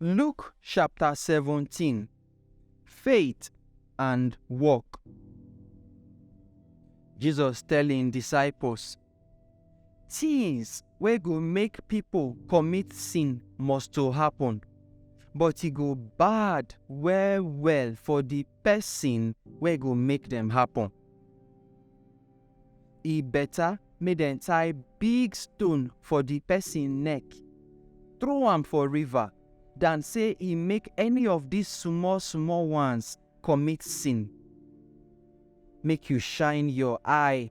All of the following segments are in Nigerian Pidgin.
Luke chapter 17 Faith and Work. Jesus tell im disciples, Things wey go make pipo commit sin must to happen, but e go bad well well for di pesin wey go make dem happen. E beta make dem tie big stone for di pesin neck, throw am for river, dan sey e make any of dis small small ones commit sin. Make you shine your eye.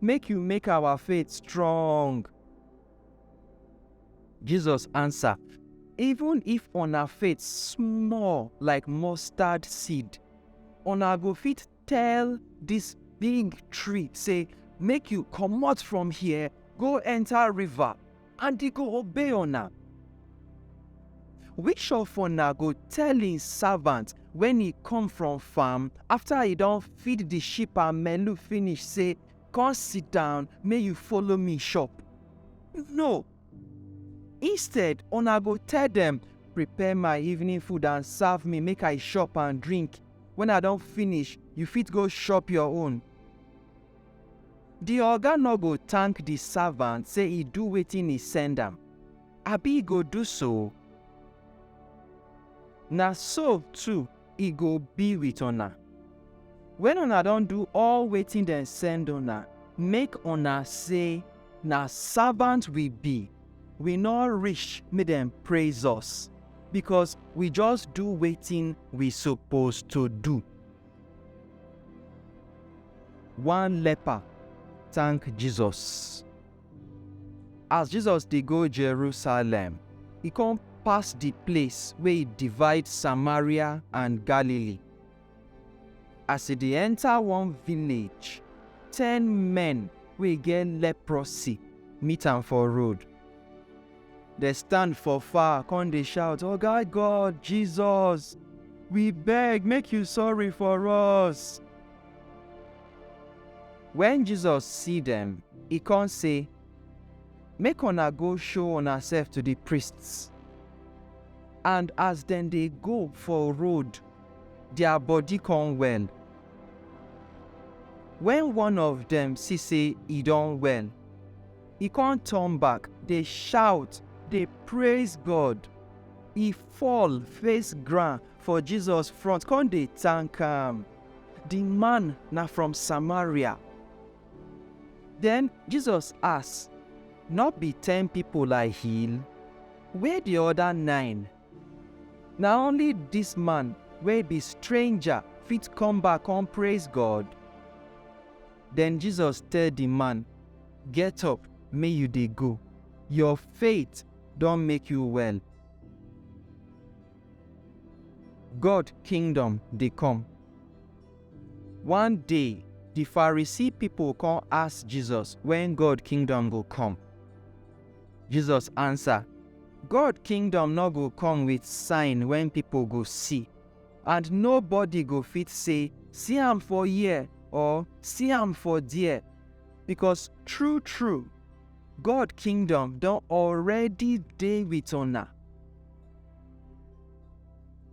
Make you make our faith strong. Jesus answer, Even if una faith small like mustard seed, una go fit tell this big tree say, Make you comot from here, go enter river, and e go obey una. Which of una go tell im servant when e come from farm after e don feed the sheep and melu finish say, Come sit down, may you follow me shop? No. Instead, una go tell them, Prepare my evening food and serve me, make I shop and drink. When I don finish, you fit go shop your own. Di oga nor go tank di savant sey e do wetin e send am, abi e go do so? Na so too e go bi with una, wen una don do all wetin dem send una, make una sey, Na savant wi bi, wi nor rish make dem praiz us, bikos wi just do wetin wi sopos to do. One leper thank Jesus. As Jesus dey go Jerusalem, e come pass the place wey e divide Samaria and Galilee. As e dey enter one village, ten men wey get leprosy meet am for road. Dem stand for far come dey shout, Oga God, Jesus, we beg make you sorry for us. Wen Jesus see dem, e come say, Make una go show unasef to di priests. And as dem dey go for road, dia body come well. Wen one of dem see sey e don well, He come turn back, dey shout, dey praise God. He fall face ground for Jesus front, come dey thank am. The man na from Samaria. Then Jesus ask, No be ten people I heal? Where the other nine? Na only this man wey be stranger fit come back come praise God? Den Jesus tell di man, Get up, make yu dey go. Yor faith don make yu well. God Kingdom dey kom. One day, di Pharisee pipol kon ask Jesus wen God Kingdom go kom. Jesus ansa, God Kingdom nor go kom wit sign wey pipol go si. and nobody go fit say, See am for here or see am for there. Because true, true, God kingdom don already dey with una.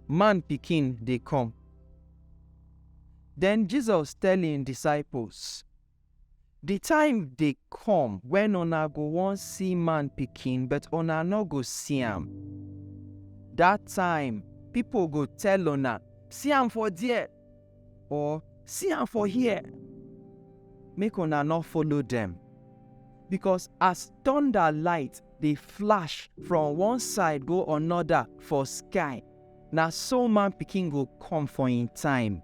Man pikin dey come. Then Jesus tell him disciples, Di time dey kom wen una go won si man pikin but una nor go si am. Dat time pipol go tell una, Si am for der! or Si am for here! Make una nor follow dem. Bikos as tonda light dey flash from one side go anoda for sky, na so Man pikin go kom for en time.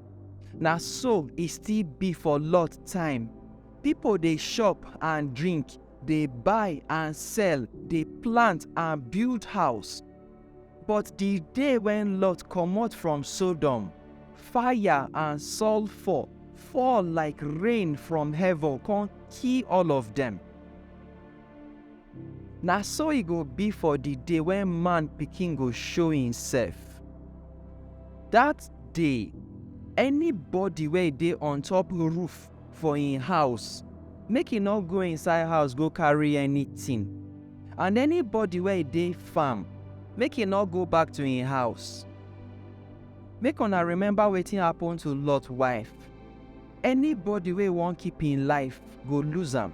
Na so e still be for Lot time. Pipo dey chop and drink, dey buy and sell, dey plant and build house. But di day wen Lot comot from Sodom, fire and sulfur fall like rain from heaven kon kill all of dem. Na so e go bi for di day wen man pikin go show himsef. Dat day, enibody wey dey ontop roof for hin house, make e nor go inside house go karry anytin, and enibody wey dey farm, make e nor go back to hin house. Make una remember wetin happen to Lot wife, enibody wey won keep hin life go lose am.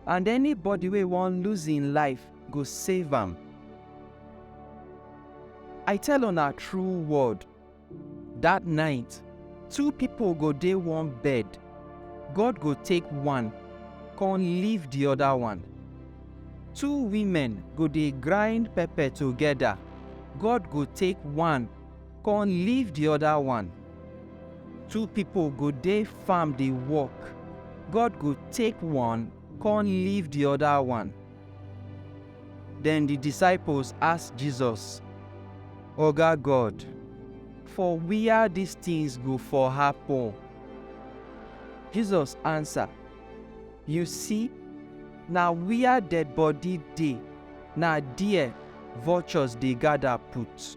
and anybody wey wan lose im life go save am. I tell una true word, dat night, two pipo go dey one bed, God go take one, con leave di oda one. Two women go dey grind pepper togeda, God go take one, Kon leave di oda one. Two pipol go dey farm dey work, God go take one kon leave di oda one. Den di disciples ask Jesus, Oga God, for wia dis tins go for happen? Jesus ansa, Yu si, na wia dead body dey, na der vultures dey gada put.